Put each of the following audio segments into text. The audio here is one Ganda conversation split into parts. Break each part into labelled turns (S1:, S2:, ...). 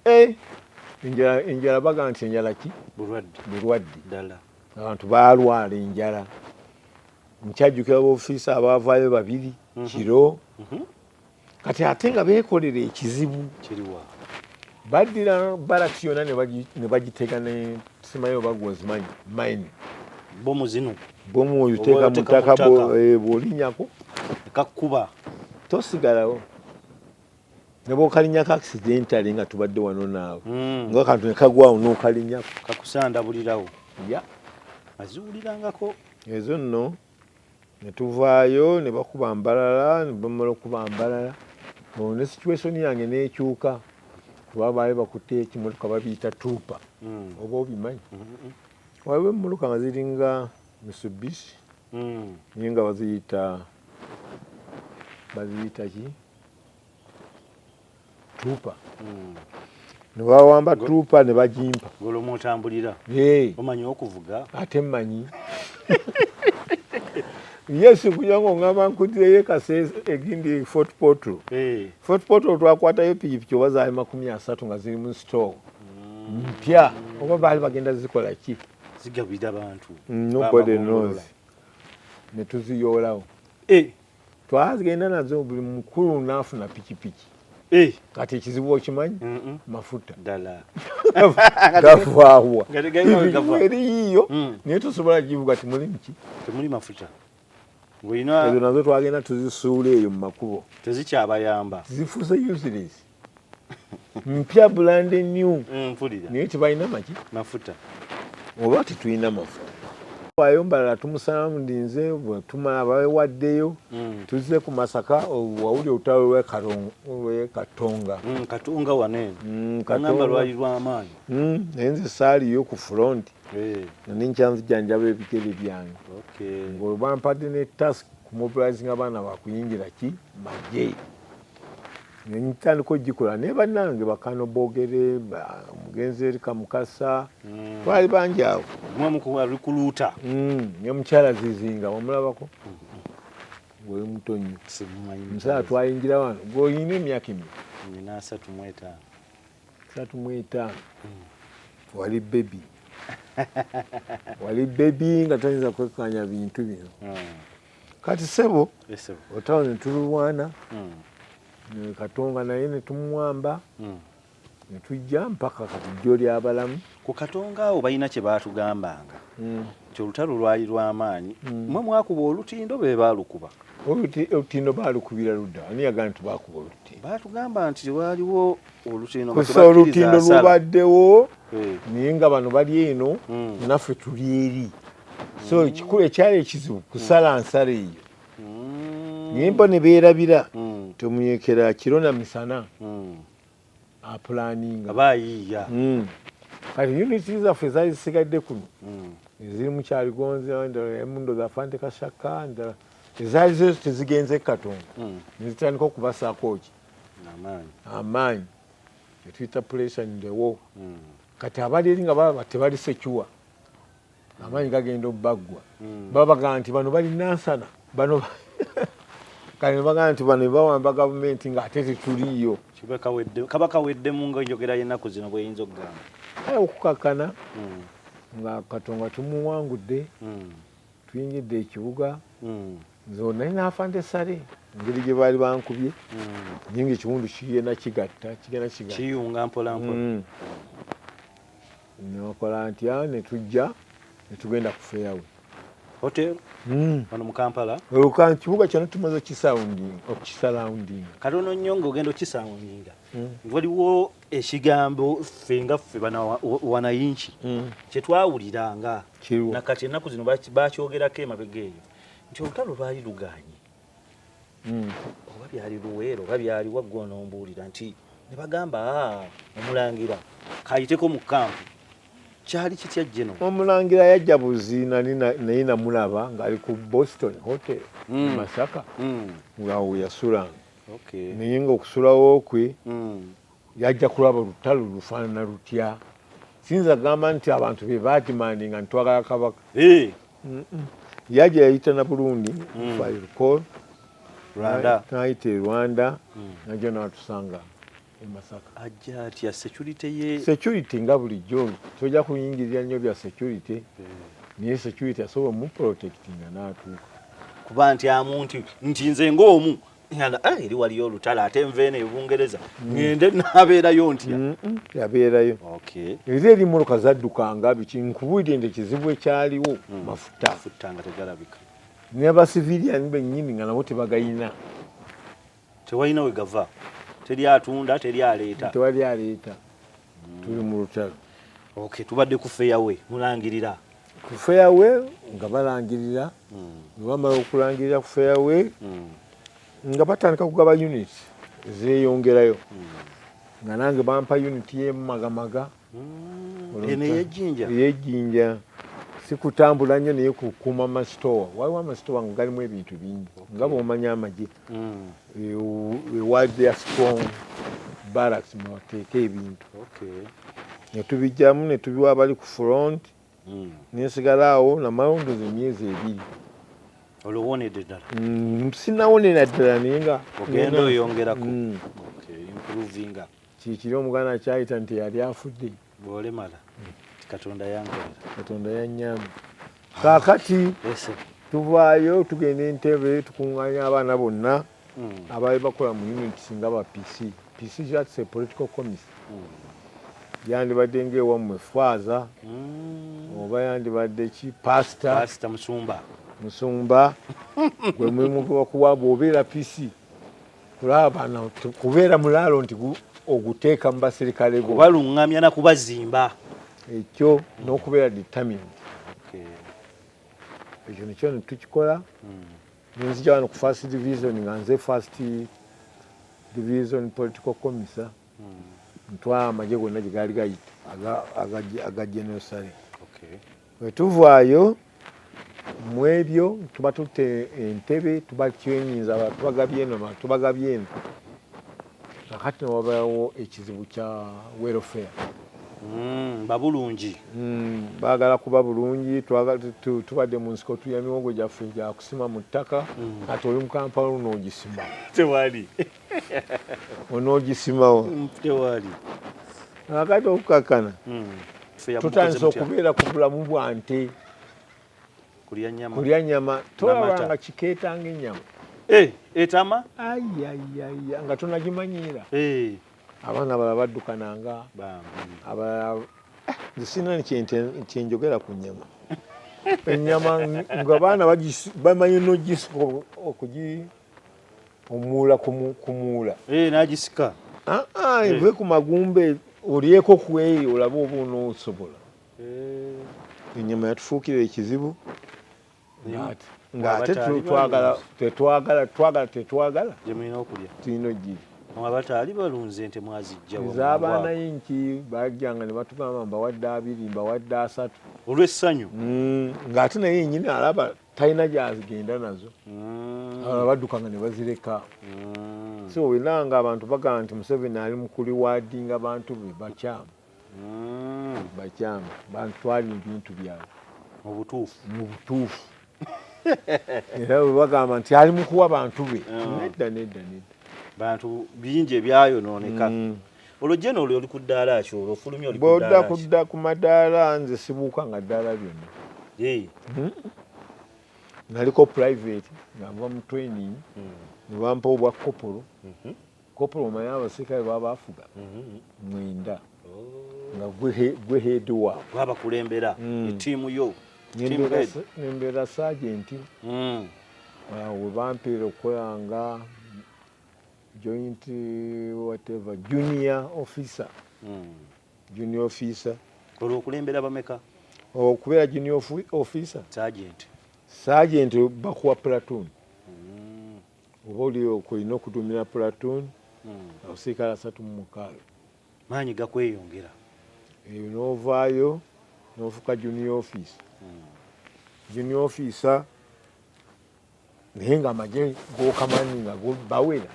S1: Eh, enjala enjala baga nti enjala ki bulwadde bulwadde ddala
S2: abantu baalwala
S1: enjala nkyajjukira baofiisa abaavaayo babiri mhm. kiro mhm. kati ate nga beekolera ekizibu kiriwa
S2: baddira
S1: baraki yona ne bagitega ne simayo bagwozimanyi maini bomu
S2: zino bomu oyo teeka
S1: mu ttaka bwolinyako eh, ekakkuba
S2: tosigalawo
S1: nga bokalinya ka accidentally nga tubadde wano naawe mm. nga kantu nekagwawo nokalinya kakusandabulirawo
S2: ya
S1: aziwulirangako
S2: ezo
S1: nno netuvaayo ne bakuba mbalala ne bamala okuba mbalala olwo ne situationi yange nekyuka kuba baali bakutte ekimotoka babiyita tuupa hmm. oba obimanyi hmm. waliwo emmotoka nga ziringa misubishi hmm. naye nga baziyita baziyita ki tuupa hmm. ne bawamba tuupa ne bagimpa ng'olwomu otambulira
S2: omanyi okuvuga ate mmanyi
S1: yes kuja ng'ongamba nkudireyo ekasa egindi fort portal fort portal twakwatayo pikipiki oba zaali makumi asatu nga ziri mu store hmm. mpya oba baali bagenda zikola ki zigabira bantu
S2: nobody knows
S1: ne tuziyoolawo eh. twagenda nazo buli mukulu nafuna pikipiki eh. kati ekizibu okimanyi mafuta ddala gavaawa eriyiyo mm. naye tosobola givuga timulimu ki temuli mafuta ezo nazo twagenda tuzisuula eyo mu makubo tezikyabayamba
S2: zifuuse
S1: useless mpya brand new mm, mpulira naye tebalina maki mafuta
S2: oba
S1: tetulina mafuta wayo mbalala tumusalamu ndinze tumala bawewaddeyo mm. tuzze ku masaka wawuli olutalo lwekatonga mm, katonga wanene
S2: mm, katonga lwali lwamaanyi mm, naye nze
S1: saaliyo ku front eh. nani nkyanzijanjaba ebigere byange okay. ngolwo bampadde ne task ku mobilizing abaana bakuyingira ki majeyi nentandika ogikola naye banange bakano bogere mugenzi eri kamukasa mm. twali bangi awo mwamukuwalikuluuta
S2: mm, ne
S1: mukyala zizinga wamulabako gwe muto nnyo musaa twayingira wano gweolina emyaka emi nina asatu mwetaano asatu mwetaano mm. wali bebi wali bebi nga toyinza kwekanya bintu bino kati sebo otawo netululwana hmm. katonga naye netumwamba hmm. netujja mpaka kati jjo lyabalamu ku katonga awo
S2: balina kyebatugambanga hmm. nti olutalo lwali lwamaanyi mwe mwakuba olutindo be baalukuba olutindo
S1: baalukubira ludda ani yagamba nti baakuba olutindo baatugamba nti waaliwo
S2: olutindo kusa olutindo
S1: lubaddewo eh. naye nga bano bali eno naffe tuli eri so mm. ekikulu ekyali ekizibu kusala mm. nsala eyo mm. naye mbo ne beerabira tomuyekera kiro na misana apulaninga bayiiya
S2: kati
S1: uniti zaffe zali zisigadde kuno eziri mukyaligonzi endala emundo zafante kashaka endala ezaali zezo tezigenze katonda nezitandika okubasaako ki amaanyi etuyita pulesa ndewo kati abali eri nga balaba tebali secuwa amaanyi gagenda obaggwa hmm. babaga nti bano bali nansana bano kale nebaga nti bano bawamba gavumenti nga ate tetuliyo kaba
S2: kaweddemu nga enjogera yenaku zino bweyinza okugamba aye okukakkana
S1: hmm. nga katonga tumuwangudde hmm. tuyingidde ekibuga nze naye nafande sale engeri gye baali bankubye nyinga ekiwundu kigenda kigatta kigenda kigata kiyunga
S2: mpolampola
S1: Nokola ntya ne tujja ne tugenda ku fairway hotel
S2: hmm. wano mu Kampala. Oluka kibuga kyano
S1: tumaze okisounding okisounding. Kati ono nnyo
S2: ng'ogenda okisoundinga hmm. waliwo ekigambo ffe nga ffe wanayinki hmm. kye twawuliranga na kati ennaku zino bakyogerako emabega eyo nti olutalo lwali luganye hmm. oba byali luweero oba byali waggwa onombuulira nti ne bagamba ah, omulangira kayiteko mu kampu kyali kitya jeno omulangira yajja
S1: buzi nali naye namulaba ng'ali ku boston hotel hmm. masaka hmm. ngaawo yasulanga naye ngaokusulawo kwe Yajja kulaba olutalo lufaanana lutya? Siyinza kugamba nti abantu be baadimandinga nti twagala kabaka. Yajja yayita na Burundi, mm. if I recall, n'ayita e Rwanda mm. najja n'atusanga e Masaka. Ajja atya
S2: security ye? Security nga bulijjo
S1: tojja kuyingirira nnyo bya security eh. naye security asobola omuprotectinga n'atuuka kuba nti
S2: amu nti nti nze ng'omu ngamba eh eri waliyo olutalo ate nva eno ebungereza mm. ngende nabeerayo ntya mm, mm, yabeerayo
S1: era eri mmotoka zaddukanga biki nkubulire nti ekizibu ekyaliwo mafuta mafuta nga tegalabika
S2: nabasiviliani
S1: bennyini nga nabo tebagayina
S2: tewalina we gava teri atunda teri aleeta tewali aleeta
S1: tuli mu lutalo ok tubadde
S2: ku feyawe mulangirira ku fairway
S1: nga balangirira hmm. webamala okulangirira ku fairway hmm. nga batandika kugaba unit zeyongerayo hmm. nga nange bampa unit yemumagamaga
S2: eyejinja
S1: sikutambula nnyo naye kukuma amasitowa waliwo amasitowa nga galimu ebintu bingi nga bwomanya amagye mm. we, we was there strong barracks mwebateeka ebintu okay. netubijjamu netubiwa abali ku front mm. nensigala awo namalondozi emyezi ebiri
S2: olowonedde ddala mm, sinawonera
S1: ddala naye nga ogenda oyongerako
S2: mm. okay, improvinga kikiri
S1: omuganda kyayita nti yali afudde bwolemala
S2: katonda yankolera katonda yanyamba
S1: kakati tuvaayo tugenda entebe tukunganya abaana bonna hmm. abaali bakola mu unit singa ba pc pc jats a political commis hmm. yandibadde ngaewammwe faaza hmm. oba yandibadde ki pasta musumba musumba gwe mulimu gwebakuwa bwobeera pc kulaba bana kubeera mulaalo nti oguteeka mu baserikale go kubalungamya na kubazimba
S2: ekyo
S1: n'okubeera determined ekyo nekyo netukikola hmm. nenzija wano ku first division nga nze first division political commissar hmm. ntwala amagye gonna gye gaali gayita aga general sale Bwe tuvaayo mu ebyo tuba tutte entebe tuba twenyinza abalala tubagabye eno abalala tubagabye eno kakati ne wabeerawo ekizibu kya welfare Mm,
S2: babulungi mm,
S1: baagala kuba bulungi tubadde mu nsiko tulya miwogo gyaffe gyakusima mu ttaka mm. ati oli mukampala luno ogisima tewali
S2: onogisimawo
S1: akati okukakana hmm. tutandise okubeera ku bulamu bwa nte kulya nyama tolabanga kikeetanga enyama eh, etama
S2: ayayaya
S1: nga tonagimanyiira eh. abaana bala baddukananga abalala eh, zisina kyenjogera ku nyama enyama nga baana bamanyi nogisoka okugi omuula kumuula eh, nagisika
S2: ah, ah, eh. eve
S1: ku magumbe olyeko kweyo olaba oba onoosobola eh. enyama yatufuukira ekizibu ngaate twagala tetwagala twagala tetwagala gyemulina okulya
S2: tulina ogiri
S1: abataali balunze
S2: nte mwazijjaezabaana yinki
S1: bajjanga nebatugamba mbawadde abiri mbawadde asatu olwessanyu
S2: mm, ngaate
S1: naye yenyini alaba talina gyagenda nazo mm. abalala badduka nga ne bazireka mm. so wena nga abantu bagamba nti museveni ali mukuliwaadinga bantu be bakyamu mm. bakyamu bantu twali ebintu byabwe mubutuufu
S2: mubutuufu
S1: era webagamba nti ali mukuwa bantu be nedda nedda nedda bantu
S2: bingi ebyayonooneka olwo jeno olyo oli ku ddaala ki olwo ofulumye oli bwodda kudda ku madaala
S1: nze sibuuka nga ddaala lyonna hmm? naliko private nga nva mu training hmm. ne bampa obwa kopolo mhm. kopolo omanye abasirikale babaafuga mhm. mwenda oh. nga gwe heedi waabwe abakulembera hmm.
S2: etiimu yo
S1: nembeera saajenti awo webampeera okukolanga joint whatever junior officer mm. junior officer
S2: olwo okulembera bameka okubeera
S1: junior officer sergeant sergeant bakuwa platoon mm. oba oli okulina okuduumira platoon mm. abasirikale asatu mu mukaaga maanyi
S2: gakweyongera eyo
S1: n'ovaayo n'ofuka junior officer mm. junior officer naye nga amagye gokamanyi nga bawera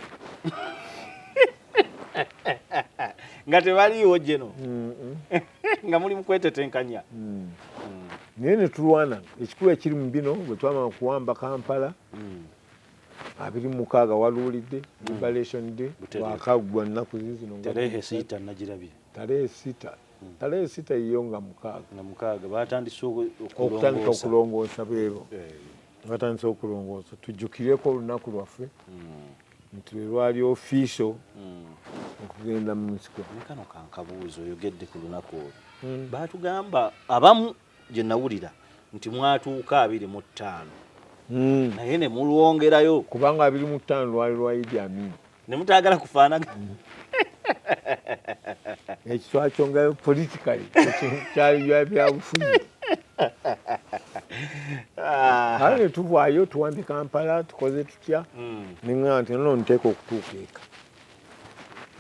S2: nga tebaliiwo jeno nga muli mukwetetenkanya mm.
S1: naye netulwana ekikulu ekiri mu bino bwetwamama kuwamba kampala mm. abiri mukaaga waluulidde mm. liberation day wakagwa nnaku zizino tarehe sita
S2: nagirabye tarehe sita
S1: tale esita yiyo nga mukaaga nga mukaaga
S2: batandise okutandika
S1: okulongoosa beebo eh. batandise okulongoosa tujjukireko olunaku lwaffe hmm. nti lwe lwali ofiiso hmm. okugenda mu nsiko naye kano kankabuuzi
S2: oyogedde ku lunaku olwo hmm. baatugamba abamu gye nawulira nti mwatuuka abiri mu ttaano naye ne mulwongerayo kubanga abiri mu
S1: ttaano lwali lwa idi amini ne mutaagala
S2: kufaanagana
S1: ekitwakyo nga politikali kyaliyo byabufuzi ah. kale netuvaayo tuwambye kampala tukoze tutya hmm. neŋaa nti nono nteeka okutuuka eka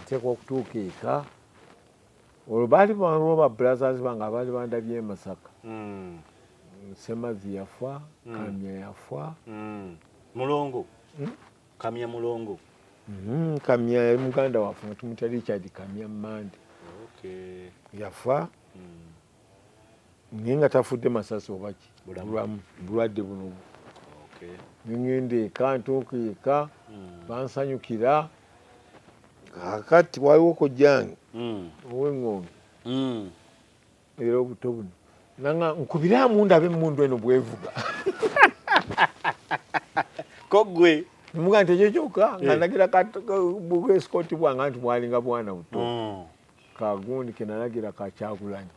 S1: nteeka okutuuka eka olwo baali baliwo ba brothers bange abaali bandabye emasaka hmm. semazi yafa hmm. kamya yafa mulongo
S2: Kamya mulongo. Mm, kamya
S1: yali muganda waffe nga tumutya Richard Kamya Mande. Okay. Yafa. Mm. Naye nga tafudde masasi oba ki bulamu bulwadde buno bu. Okay. Nengenda eka ntuuka eka mm. bansanyukira kakati waliwo kojjange mm. ow'eng'ombe mm. era obuto buno nanga nkubiraamu ndabe emundu eno bwevuga
S2: kogwe muga nti ekyo
S1: kyokka nga eh. nagira bwesikooti bwanga nti bwalinga bwana buto mm. kagundi kenalagira kakyagulanyi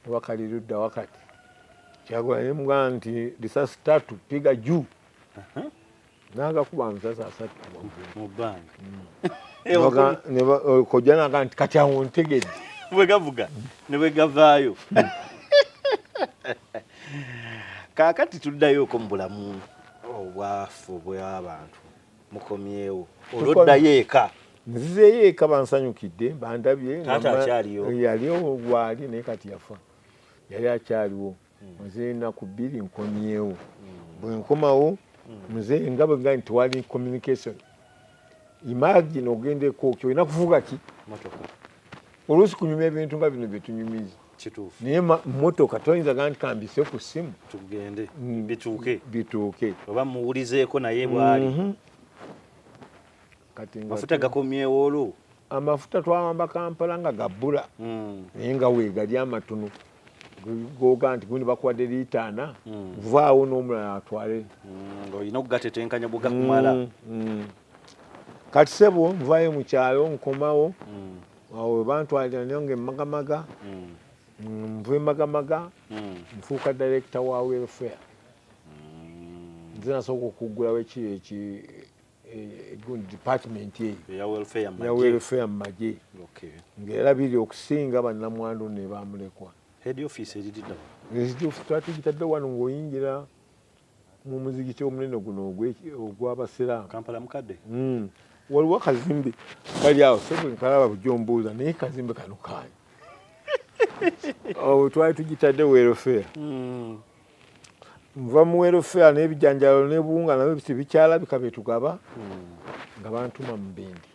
S1: oba
S2: kali ludda
S1: wakati kyagulanyi muga nti lisasi tatu piga juu uh-huh. nagakuba amasasi asatu mu
S2: bbanga mm.
S1: kojja naga nti kati awo ntegedde bwegavuga
S2: nebwegavaayo kakati tuddayoko mu bulamu obwafu obw'abantu mukomyewo olwoddayo eka nzizeeyo eka
S1: bansanyukidde bandabye yaliwo
S2: gwali naye kati
S1: yafa yali akyaliwo nze enaku bbiri nkomyewo bwenkomawo mzee nga bwega nti tewali communication imagine ogenda ekooki olina kuvuga ki oluusi kunyuma ebintu nga bino byetunyumiza naye motoka toyinza ga nti kambise ku ssimu tugende mm.
S2: bituuke bituuke oba muwulizeeko naye bwali mhm. kati mafuta gakomyewo olwo amafuta twawamba
S1: kampala nga gabbula hmm. naye nga wegali amatono goga nti gundi bakuwadde liita ana hmm. vaawo n'omulala atwale hmm, olina
S2: okugatetenkanya bwegakumala
S1: kati sebo nvayo mukyalo nkomawo awo webantwalira nayo nga emagamaga nva emagamaga nfuuka direkita wa welfare nze nasooka okuggulawo ekiro department eyo
S2: ya welfare mu magye
S1: ng'erabirira okusinga bannamwandu ne bamulekwa
S2: twatugitadde
S1: wano ng'oyingira mu muzigiti omunene guno ogw'abasiraamu
S2: hmm. waliwo
S1: kazimbe kali awo sekalaba bujo mbuuza naye kazimbe kano kaani twali tugitadde welfare hmm. nva mu welfare n'ebijanjalo n'ebuwunga nabyo tebikyalabika byetugaba hmm. nga bantuma mu bendi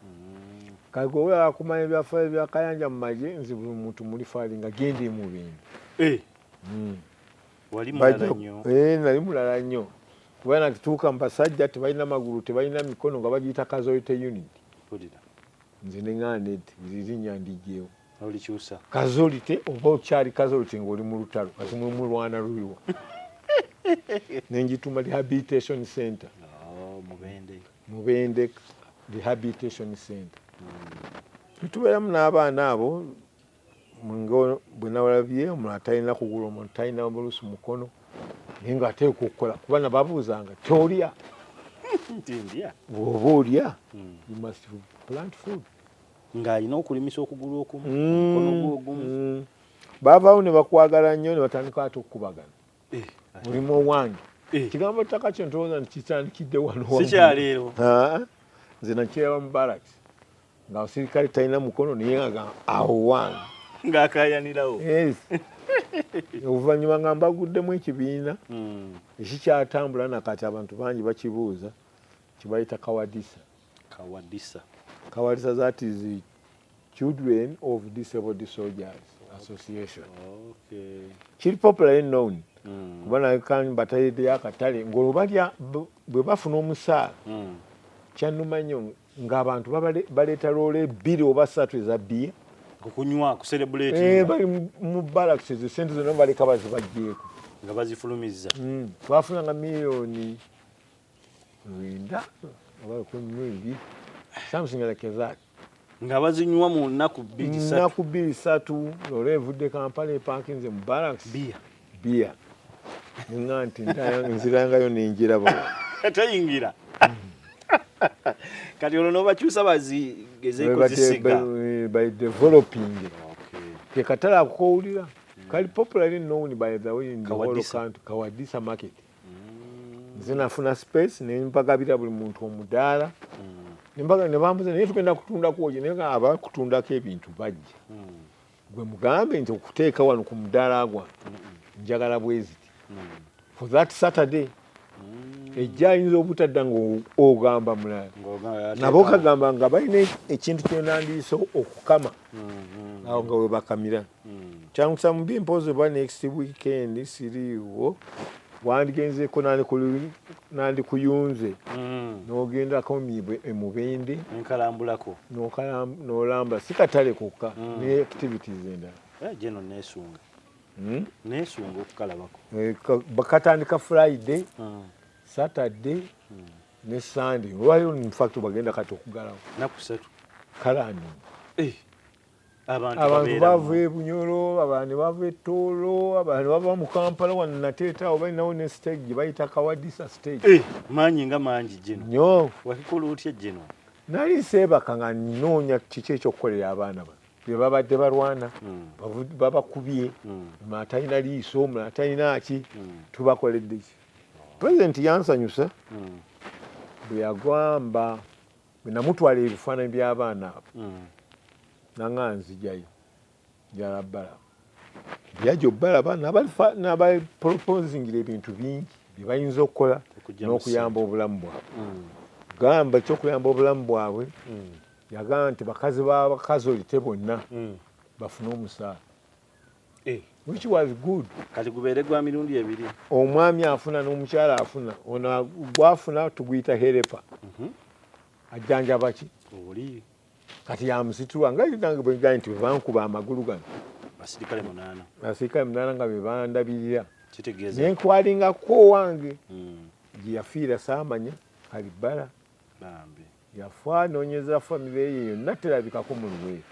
S1: hmm. kale gwewe akumanya ebyafaayo byakayanja mu magye nze buli muntu muli faali nga genda emu bendi eh.
S2: hmm. eh, nali mulala nnyo
S1: kuba nakituuka mu basajja tebalina magulu tebalina mikono nga bagiyita kazoyite unit nze neŋaned zirinya ndigyewo olikyusa
S2: kazolite oba
S1: okyali kazolite ng'oli mu lutalo kati mwe mulwana luyiwa nenjituma rehabilitation center oh, mubende rehabilitation center hmm. tubeeramu n'abaana abo bwe nawalabye omulala talina kugula omuntu talina bulusi mukono naye nga ateeka okukola kuba nababuuzanga tolya bwoba olya hmm. you must plant food ng'alina
S2: okulimisa okugulu okumu omukono gwe ogumu mm. baavaawo ne
S1: bakwagala nnyo ne batandika ate okukubagana eh, mulimu owange eh. kigambo ttaka kyo ntowooza nti kitandikidde wanosikyaleero nze nakiraba mu baraki nga osirikale talina mukono naye nga awo wange ng'akayanirawo oluvannyuma nga mbaguddemu ekibiina hmm. ekikyatambula nakati abantu bangi bakibuuza kibayita kawadisa Kawadisa. Kawadisa that is the children of disabled soldiers association. Okay. Kiri popularly known. Mm. Kuba nayo kan batayede ya katale ngolo balya bwe bafuna omusaala. Mm. Kyanuma nnyo ng'abantu baleeta loole ebbiri oba ssatu eza bbiya okunywa
S2: kuserebuleeti eh, bali mu
S1: balakisi ezo sente zonna baleka bazibajjeeko nga bazifulumizza
S2: mm. twafunanga
S1: miliyoni lwenda oba lukumi mu ebiri something like that nga bazinywa
S2: mu nnaku bbiri satu nnaku bbiri satu
S1: loola evudde kampala epakinze mu barracks biya biya nga nti nzirangayo nenjiraba teyingira
S2: kati olwo nobakyusa bazigezeko zisiga eh, by
S1: developing kekatala akukowulira kali popularly known by the way in the whole country kawadisa market mm. nze nafuna space nempagabira buli muntu omudaala mm. nembaga nebambuza naye tugenda kutundako oje naye aba kutundako ebintu bajja mm. gwe mugambe nti okuteeka wano ku mudaala gwa njagala bweziti for that saturday ejja ayinza obutadda ngaogamba mulala nabo kagamba nga balina ekintu kyonandiisa okukama mm-hmm. awo nga webakamira Kyangusa mubi mpozi oba next weekend siriiwo wandgenzeko nandikuyunze nogendako e mubende
S2: nolamba
S1: si katale kokka ne activities
S2: endala bakatandika
S1: friday saturday ne sunday olwalero infact bagenda kati okugalawo nakusatu
S2: kale anonga abantu bava e bunyolo
S1: abantu bava e toolo abantu bava mu kampala wano nateeta awo balinawo ne stage gye bayita kawadisa stage eh, maanyi nga mangi
S2: gino nyo wakikola
S1: otya gino
S2: nali seebaka
S1: nga nnoonya kiki ekyokukolera abaana bano bye babadde balwana hmm. babakubye hmm. atalina liiso omula atalina ki hmm. tubakoledde ki pulezidenti yansanyusa bwe yagwamba Bwe namutwala ebifaananyi by'abaana abo mm. nanga nzijayo njala bala yaja obalaba nabapoloponzingira ebintu bingi byebayinza okukola n'okuyamba obulamu bwabwe mm. gamba ekyokuyamba obulamu bwabwe mm. yagamba nti bakazi babakazi olite bonna bafune omusaala Eh, which was good kati gubeere gwa
S2: mirundi ebiri omwami afuna
S1: n'omukyala afuna ono gwafuna tuguyita herepa mhm. ajjanjaba ki oli
S2: kati
S1: yamusitula nga nange bwegaye nti webankuba amagulu gano basirikale munaana
S2: basirikale
S1: munaana nga bebandabirira kitegeeza
S2: nenkwalingako
S1: owange hmm. gyeyafiira saamanya kalibbala Yafa nonyeza famire ye yonna terabikako mu luweero.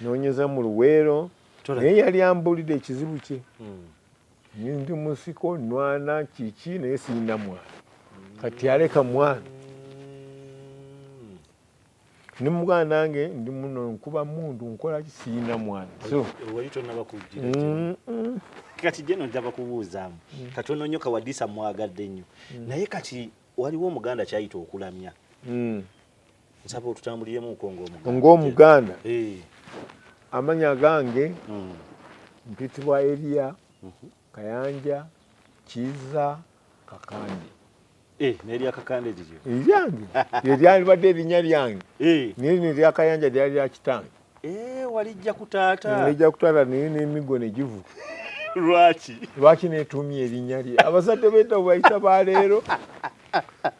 S1: Nonyeza mu luweero naye yali ambulidde ekizibu kye. Hmm. Ndi musiko nwana kiki naye siyina mwana kati yaleka mwana ni mugana nange ndi muno nkuba mundu nkola kisiyina mwana so wali tonaba
S2: kujira mm, mm. kati jeno ndaba kubuuzamu mm. kati ononyo kawadisa mwagadde nnyo mm. naye kati waliwo omuganda kyayita okulamya hmm. nsaba otutambuliremu nko ngaomuganda
S1: eh. amanya gange hmm. mpitibwa eriya mhm. kayanja kiza kakandi eh,
S2: nerya kakande liryo eryange
S1: eryalibadde erinya lyange eh. naye neryakayanja lyali lyakitange Eh, walijja
S2: ku taata walijja ku taata naye
S1: n'emiggo ne givu lwaki lwaki neetuumye erinnya lye abazadde b'edda bayita ba leero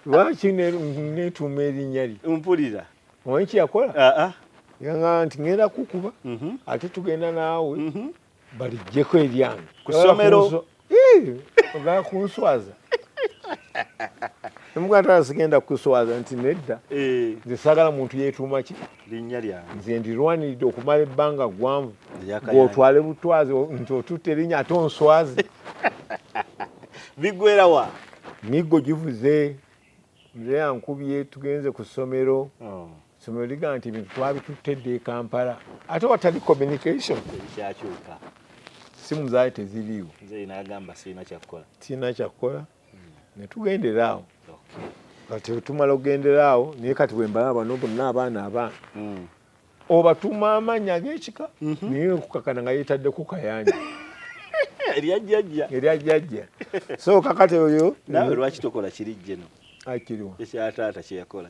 S1: lwaki neetuuma erinnya lye mpulira
S2: omanyi kye yakola
S1: yanga nti ŋŋenda kukuba mhm. ate tugenda naawe mhm. balijjeko ebyange kusomero ogala kunswaza emuganda sigenda kuswaza nti nedda eh. nze sagala muntu yetuuma ki linnya lyange nze
S2: ndirwaniridde
S1: okumala ebbanga ggwanvu ng'otwale butwazi nti otutte erinnya ate onswaze
S2: bigwera wa miggo givuze
S1: nze yankubye tugenze ku ssomero oh. Somero ligamba nti ebintu twabitutte dda e Kampala ate watali communication kyakyuka
S2: simu
S1: zaali teziriiwo nagamba
S2: sirina kyakkola sirina
S1: kyakkola hmm. ne tugendera awo kati tumala okugendera awo naye kati wembalaba bano bonna abaana abaana hmm. obatuma amaanyi ag'ekika mhm. naye okukakana nga yeetaddeko kayanja eryajjajja eryajjajja so kakati oyo nawe lwaki tokola
S2: kiri jjeno akiriwa
S1: ekyataata kyeyakola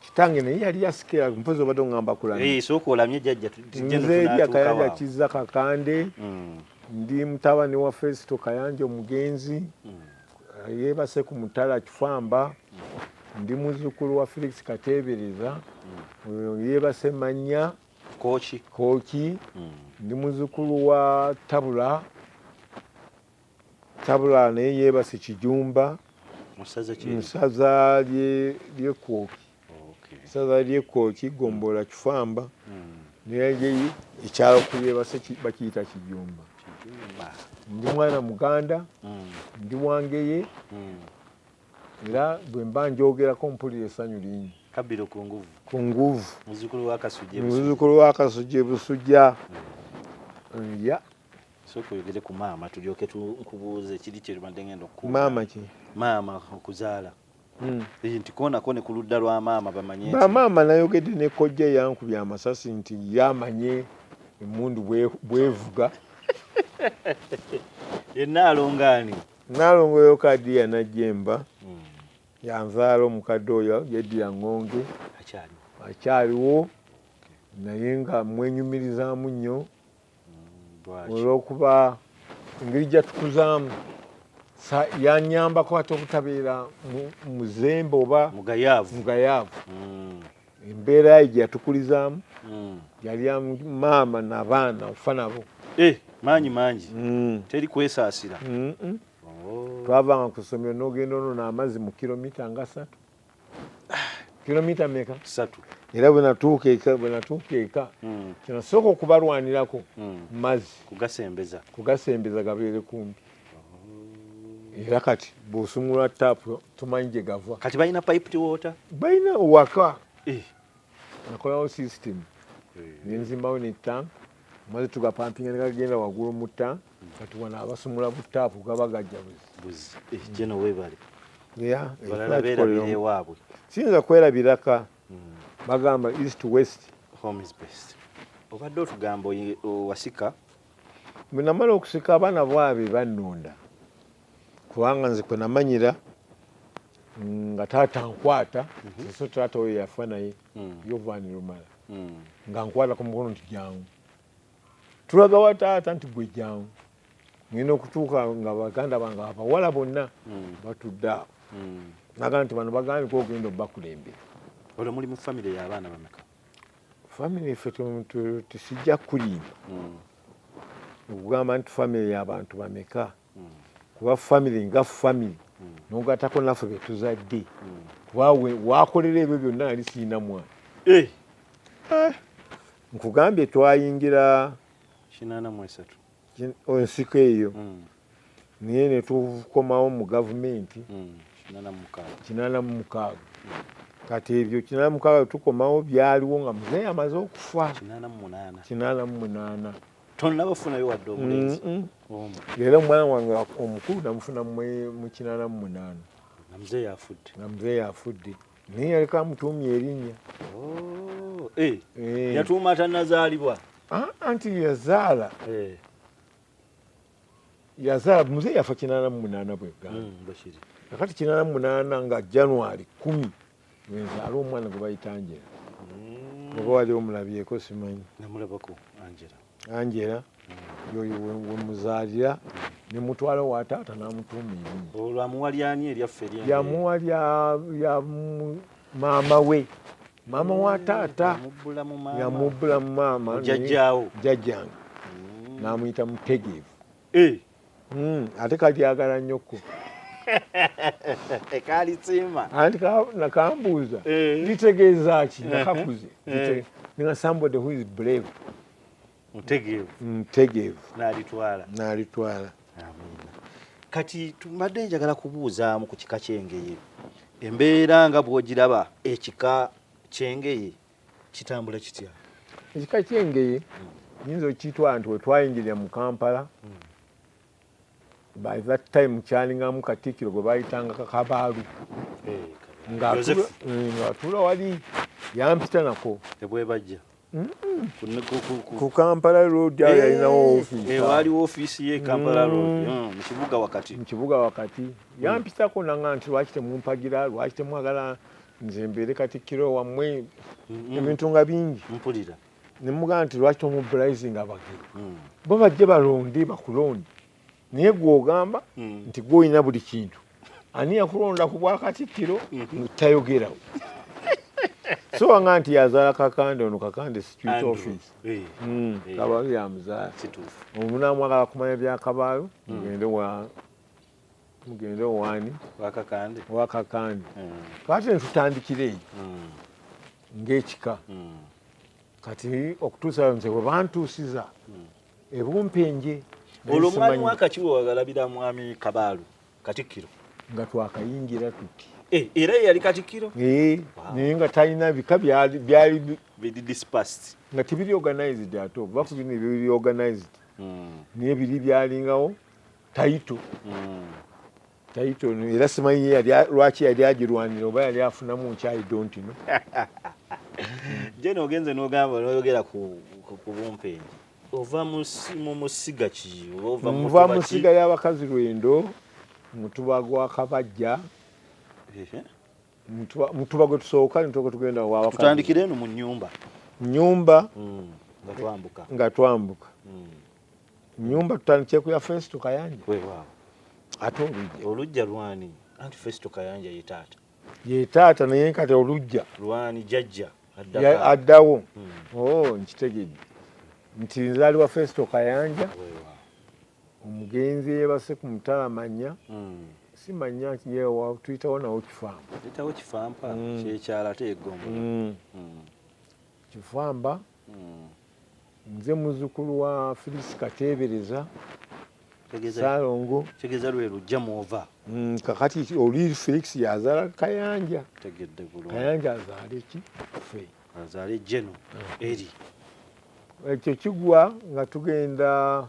S1: kitange naye yali yasikira mpozi obadde ongamba kulanzerya kayanja kizza kakande mm. ndi mutabani wa fesito kayanja omugenzi mm. yebase ku mutala kifamba mm. ndi muzukulu wa felix katebereza yebase manya koki koki ndi muzukulu wa tabula Tabula naye yebase kijumba musaza lye kwoki saza lye kwoki gombola kifamba hmm. naye ekyalo kuyebase bakiyita kijumba ndi mwana muganda hmm. ndi wangeye hmm. era bwe mba njogerako mpulira essanyu lingi kabiro ku nguvu
S2: ku nguvu muzukulu
S1: wa kasujja
S2: muzukulu wa kasujja
S1: busujja ya sooka
S2: oyogere ku maama tulyoke nkubuuze kiri kyebadde ngenda okukuwa maama ki
S1: maama
S2: okuzaala hmm. nti koonako ne ku ludda lwa maama bamanye bamaama nayogedde
S1: ne kojja yankubya amasasi nti ye amanye emundu bwevuga
S2: ye naalongaani naalongo
S1: yokadi yanajemba hmm. yanzaala omukadde oyo yedira ngonge akyaliwo naye nga mwenyumirizamu nnyo olwokuba engeri jatukuzaamu yanyambako ate obutabeera muzembe oba mugayaavu mm. embeera ye jatukulizaamu mm. yali maama nabaana ofa nabo eh, maanyi
S2: mangi mm. teri kwesaasira oh.
S1: twavanga ku ssomero nogenda onona amazzi mu kilomita nga satu kilomita meka satu era
S2: bwenatuuka
S1: eka bwenatuuka eka hmm. kyenasooka okubalwanirako hmm. mazzi kugasembeza kugasembeza gabeere kumpi oh. era kati bwosumulwa taapu tumanyi gye gava kati balina piped
S2: water balina waka
S1: eh. nakolawo system eh. nenzimbawo ne tank maze tugapampinga negagenda waggulu mu tank kati wano abasumula bu taapu gaba gajja buzi jeno eh, webale ewaabwe siyinza kwerabiraka hmm. bagamba east west home is best
S2: obadde otugamba wasika bwe
S1: namala okusika abaana bwabe bannonda kubanga nze kwe namanyira nga taata nkwata mhm. so taata oyo yafa naye hmm. yovanirumala hmm. nga nkwata ku mukono nti jangu tulagawa taata nti gwe jangu ngenda okutuuka nga baganda bange abawala bonna hmm. batudde awo hmm. nagamba nti bano bagandika ogenda obakulembera olwo muli mu
S2: famiry yabaana bameka famiry
S1: efe tesijja kulimba hmm. okugamba nti famiry yabantu bameka mm. kuba famiry nga famiry mm. nogatako naffe betuzadde mm. kuba wakolera ebyo byonna nali sirina mwana eh. eh. nkugambye twayingira ensiko eyo mm. naye netukomawo mu gavumenti mm. kinana mu mukaaga kati ebyo kinana mukaaga tukomawo byaliwo nga muzeeyi amaze okufa kinana mu munaana tonaba
S2: funayo wadde omulenzi leero
S1: omwana wange omukulu namufuna mukinana mumunana namzee yafudde namzee yafudde naye yaliko amutuumye erinnya oh, eh,
S2: eh. yatuuma atanazaalibwa ah, anti
S1: yazaala eh. yazaala muze yafa kinana mumunana bwegamba hmm, kakati kinana mumunana nga january kumi Nzaala omwana gwe bayita Angela mm. oba wali omulabyeko simanyi. Namulabako
S2: Angela. Angela
S1: mm. yoyo wemuzaalira ne mutwala wa taata n'amutuuma erinnya. Olwo amuwa lyani
S2: eryaffe erya? Yamuwa lya
S1: lya maama we. Maama wa mm, taata yamubbula mu maama jjajjaawo jjajjange n'amuyita mutegeevu. Eh. Mm, ate kalyagala nnyo ko
S2: kalisiima anti
S1: nakambuuza eh. litegeeza ki eh. nakakuze eh. nga somebody who is brave mutegeevu mutegeevu nalitwala nalitwala
S2: kati tumadde njagala kubuuzaamu ku kika kyengeye embeera nga bwogiraba ekika kyengeye kitambula kitya ekika
S1: kyengeye nyinza okitwala nti wetwayingirira mu kampala hmm. by that time kyalingamu katikiro gwe bayitanga kakabaalu eh, ngaatula eh, wali yampita nako ebwebajja ku kampala road ayo yalinawo eh, ofiisiwaliwo eh, ofiisi ye
S2: kampala mm. road mm, mukibuga wakati mukibuga wakati
S1: yampitako nanga nti lwaki temumpagira lwaki temwagala nze mbeere katikkiro wammwe mm-hmm. ebintu nga bingi mpulira
S2: nemugamba nti lwaki
S1: tomubulizinga abagero mm. bo bajje balonde bakulonde naye gwogamba mm. nti gwolina buli kintu ani yakulonda ku bwakatikkiro mm-hmm. tayogerawo so wanga nti yazaala kakande ono kakande security office eh. mm, eh. kabaayo yamuzaala omunamwagala kumanya byakabaayo mm. ogende wa mugende owaani wakakande wakakande mm. kati netutandikira eyo mm. ngaekika mm. kati okutuusa nze webantuusiza ebumpenje olwo
S2: mwami wakakiwa wagalabira mwami kabaalu katikkiro nga
S1: twakayingira tuti eh, era yeyali
S2: katikkiro eh, naye nga
S1: talina bika byali
S2: nga tebiri
S1: organized ate oba ku bino ebyo biri organized naye biri byalingawo tayito mm. tayito era simanyi lwaki yali agirwanira oba yali afunamu nkyayi dontino
S2: jena ogenze nogamba noyogera ku bumpenji ova mu musiga ki nva musiga
S1: y'abakazi lwendo mutuba gwa kabajja mutuba gwe tusooka nituka tugenda wawatutandikire eno mu nyumba
S2: nyumba
S1: mm, nga twambuka mm. nyumba tutandikye ku ya Festo Kayanja wewa ate olujja olujja
S2: lwani anti Festo Kayanja ye taata ye
S1: taata naye nkate olujja lwani jajja
S2: addawo
S1: hmm. oh nkitegedde nti nzali wa Festo Kayanja wewa omugenzi yebase ku mutala manya hmm. si manya yewa tuyitawo nawo kifamba tuyitawo kifamba
S2: hmm. kyekyala ate egombo hmm. hmm. kifamba
S1: nze muzukulu wa Felix Kateebereza Salongo tegeza lwe
S2: lujja mwova mm, kakati
S1: oli Felix yazala Kayanja tegedde bulungi
S2: Kayanja azale ki
S1: fe azale jeno
S2: mm. eri
S1: ekyo kigwa nga tugenda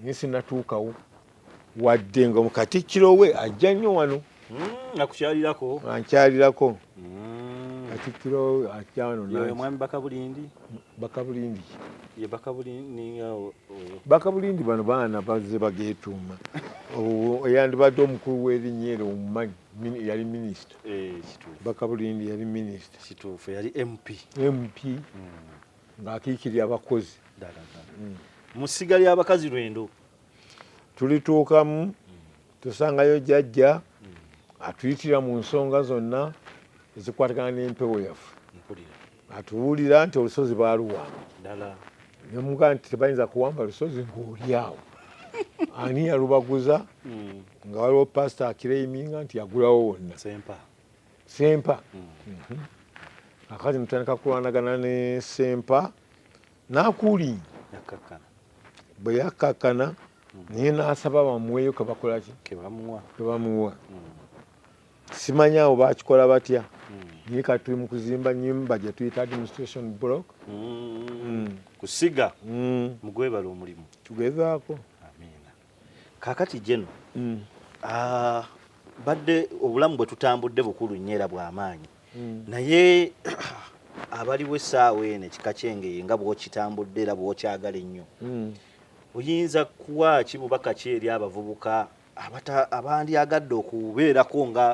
S1: naye sinatuukawo wadde nga mukatikkiro we ajja nnyo wano hmm, akukyalirako
S2: ankyalirako
S1: hmm. katikkiro ajja wano omwami bakabulindi
S2: bakabulindi
S1: bakabulindi bano baana baze bagetuuma eyandibadde omukulu w'erinnya eryo omumanyi yali minisita eh, bakabulindi yali minisita
S2: mp mp hmm.
S1: ng'akiikirira abakozi
S2: mm. mu ssiga ly'abakazi lwendo tulituukamu
S1: tusangayo jajja atuyitira mu nsonga zonna ezikwatagana n'empewo yaffe atuwulira nti olusozi baaluwamba nemuga nti tebayinza kuwamba lusozi ng'olyawo ani yalubaguza hmm. nga waliwo pasita akireiminga nti yagulawo wonna sempa akazi mutandika kulwanagana ne sempa nakuli bwe yakkakkana hmm. naye n'asaba bamuweeyo kebakolaki kebamuwa hmm. simanyi awo bakikola batya hmm. naye kati tuli mu kuzimba nyumba gye tuyita administration block kusiga
S2: mugwebala omulimu tugezaako kakati jeno mm. uh, badde obulamu bwe tutambudde bukulu nnyo era bw'amaanyi mm. naye abaliwo essaawa eno ekika kyengeye nga bw'okitambudde era bw'okyagala ennyo mm. oyinza kuwa ki bubaka ki eri abavubuka abandyagadde okubeerako nga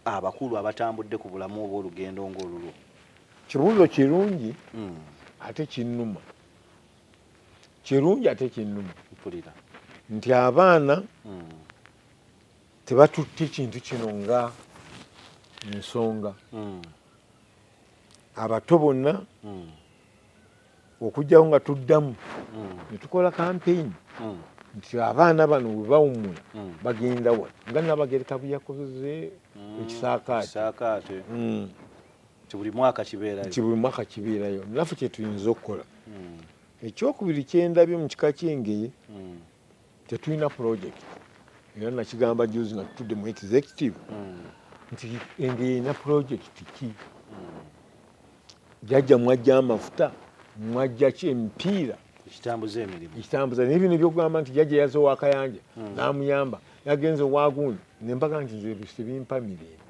S2: abakulu abatambudde ku bulamu obw'olugendo ng'olulwo kibuuzo
S1: kirungi mm. ate kinnuma kirungi ate
S2: kinnuma mpulira nti
S1: abaana mm. tebatutte kintu kino nga nsonga mm. abato bonna mm. okugyawo nga tuddamu mm. ne tukola kampeyini mm. nti abaana bano bwe bawummula mm. bagenda wa nga nabagereka bwe yakoze mm. ekisaakaate mm.
S2: nti buli mwaka kibeerayo nti buli mwaka kibeerayo
S1: naffe kyetuyinza okukola hmm. ekyokubiri kyendabye mu kika kyengeye hmm. tetulina project era nakigamba juzi nga tutudde mu executive hmm. nti engeye erina project ki jajja mwajja amafuta mwajja ki emipiira ekitambuza emirimu ekitambuza naye bino ebyokugamba nti jajja yaze owakayanja namuyamba yagenze owagundi nembaga nti nze tebimpa mirembe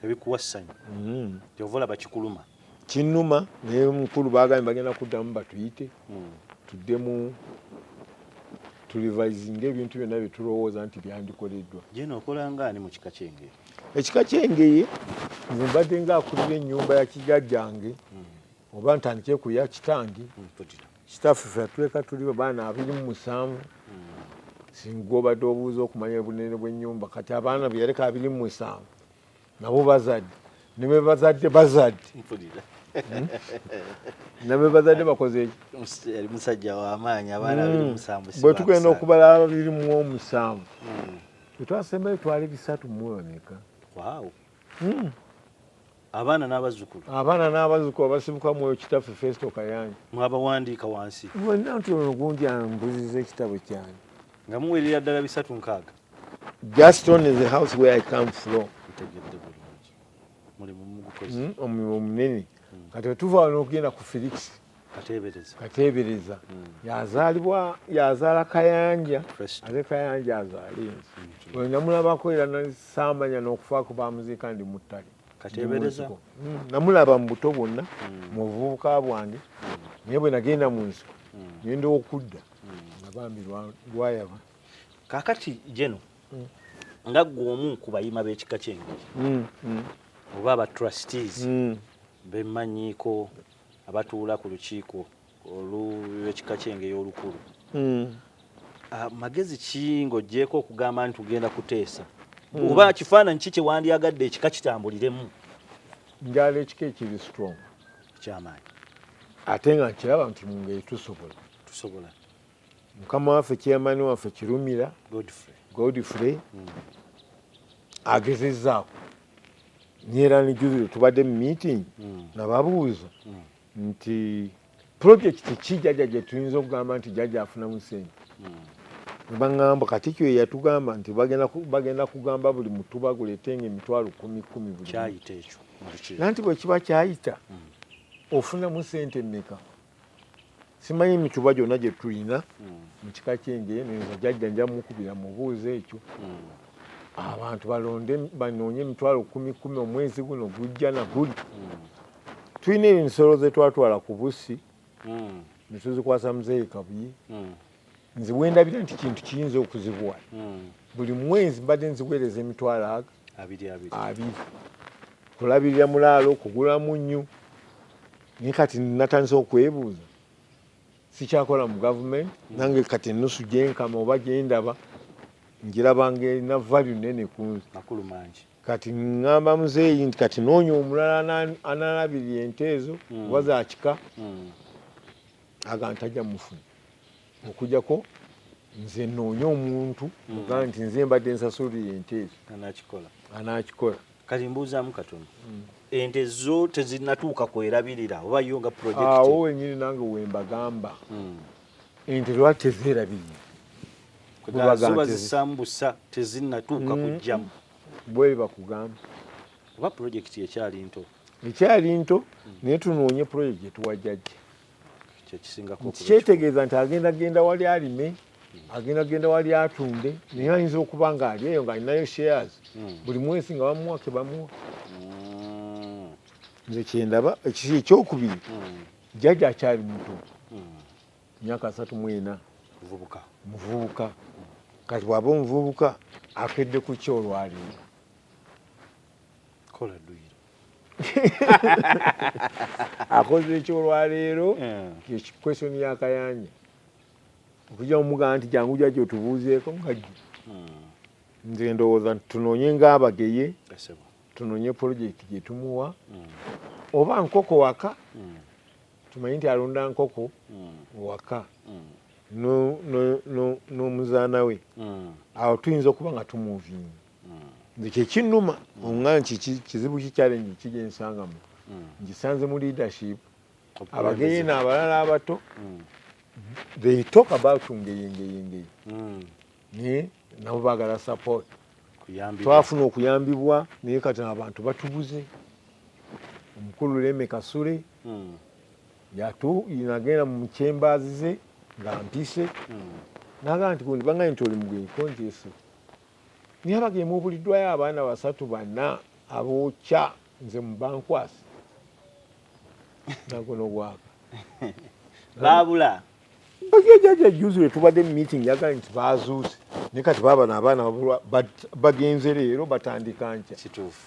S1: ebikuwa essanyu
S2: mm. kyova olaba kikuluma kinuma
S1: naye mukulu bagambye bagenda kuddamu batuyite mm. tuddemu tulivisinga ebintu byonna byetulowooza nti byandikoleddwa jena okolanga
S2: ani mu kika kyengeye ekika kyengeye
S1: nze mbadde nga akulira ennyumba ya kijajjange mm. oba ntandike kuya kitange kitaffe fe atuleka tuli baana abiri mu musanvu singa obadde obuuza okumanya obunene bw'ennyumba kati abaana beyaleka abiri mu musanvu nabo bazadde ne be bazadde bazadde hmm? ne be bazadde bakoze eki musajja
S2: w'amaanyi abaana hmm. abiri musanvu bwe tugenda okubala
S1: abiri mu omusanvu hmm. tetwasembayo twali bisatu mu emeka hmm.
S2: abaana n'abazzukulu abaana
S1: n'abazzukulu abasibuka mwoyo kitaffe festo kayanja mwabawandiika wansi
S2: wenna nti ono gundi
S1: ambuziza ekitabo kyange nga muwerera
S2: ddala bisatu nkaaga gaston
S1: is the house where i come from ntegedde bulungi mulimu mugukoze hmm, omulimu omunene hmm. kati wetuva wano okugenda ku felix kateebereza hmm. yazaalibwa yazaala kayanja ate kayanja azaala ensi hmm. oyo namulabako era nasaamanya n'okufaako bamuziika ndi mu ttale hmm.
S2: namulaba
S1: mu buto bwonna mu buvubuka bwange naye bwe nagenda mu nsiko nenda okudda nga bambi lwayaba kakati
S2: jeno nga gwe omu ku bayima b'ekika ky'engeri oba aba trustees bemanyiiko abatuula ku lukiiko olw'ekika ky'Engeye olukulu hmm. ah, magezi ki ng'oggyeeko okugamba nti tugenda kuteesa hmm. oba kifaananyi ki kye wandyagadde ekika kitambuliremu njala
S1: ekika ekiri strong ekyamaanyi
S2: ate
S1: nga nkiraba nti mungeri tusobola tusobola mukama waffe chairman waffe kirumira godfrey hmm. agezezaako nyera ni jubilo tubadde mu meeting hmm. nababuuza hmm. nti projekiti ki jaja gye tuyinza okugamba nti jaja afunamu sente nebaŋamba kati kyo yeyatugamba nti bagenda kugamba buli mutu baguletenga emitwalo kumi kumi bulinanti
S2: bwekiba
S1: kyayita ofunamu sente meka simanyi mituba gyonna gye tulina hmm. mu kika ky'enjeye neza jajja nja mukubira mubuuza ekyo hmm. abantu balonde banoonye emitwalo kumi kumi omwezi guno gujja na guli hmm. tulina ensolo ze twatwala ku bussi ne tuzikwasa muzeeyi kabuye nze wendabira nti kintu kiyinza okuzibuwa hmm. buli mwezi mbadde nziweereza emitwalo aga abiri kulabirira mulaalo kugula munnyu naye kati natandise okwebuuza sikyakola mu gavumenti hmm. nange kati enusu gyenkama oba gyendaba njirabanga erina valu nene kunze
S2: kati ngamba
S1: muzeeyi nti kati noonya omulala analabirira ente ezo hmm. oba zakika aga ntajja mufuna okujako nze noonya omuntu hmm. oga nti nze mbadde nsasulira ente ezo anakikola kati mbuuzaamu
S2: katono hmm. ente zo tezinatuuka kwerabirira oba yo nga projektawo wenyini nange
S1: wembagamba hmm. ente lwaki tezerabirira zoba zisambusa
S2: tezinatuuka kujjamu bwebakugamba
S1: oba
S2: projekiti ekyali nto ekyali
S1: nto naye tunoonye project gyetuwa jajja
S2: kyetegeeza nti
S1: agenda genda wali alime agenda genda wali atunde naye ayinza okuba nga ali eyo ngaalinayo shares hmm. buli mwezi nga bamuwa kebamuwa hmm. nze kyendaba ekyokubiri hmm. jajja akyali muto myaka asatu mwena muvubuka kati bwaba omuvubuka akedde ku kyolwaliro kola duyiro akoze ekyolwaleero question ya kayanja okujja omugamba nti jangu jajja otubuuzeeko mukajju hmm. nze ndowooza nti tunoonye ngaabageye tunoonye pulojekiti gye tumuwa hmm. oba nkoko waka hmm. tumanyi nti alunda nkoko waka n'omuzaana we awo tuyinza okuba nga tumuvinga nze kyekinuma nga nti kizibu ki challenge ki gyensangamu ngisanze mu leadership abageye nabalala abato they talk about ngeye ngeye ngeye naye nabo bagala support twafuna
S2: okuyambibwa
S1: naye kati abantu batubuze omukulu leme kasule yatu nagenda mu kyembazi ze nga mpise naga nti kundi bangaye nti oli mugenyi konjese Nyabaga emuubuliddwayo abaana basatu bana abookya nze mu bankwasa naguno gwaka baabula
S2: bajajaja
S1: juzi wetubadde mu meeting yagala nti baazuuse ne kati baabano abaana bagenze leero batandika nkya kituufu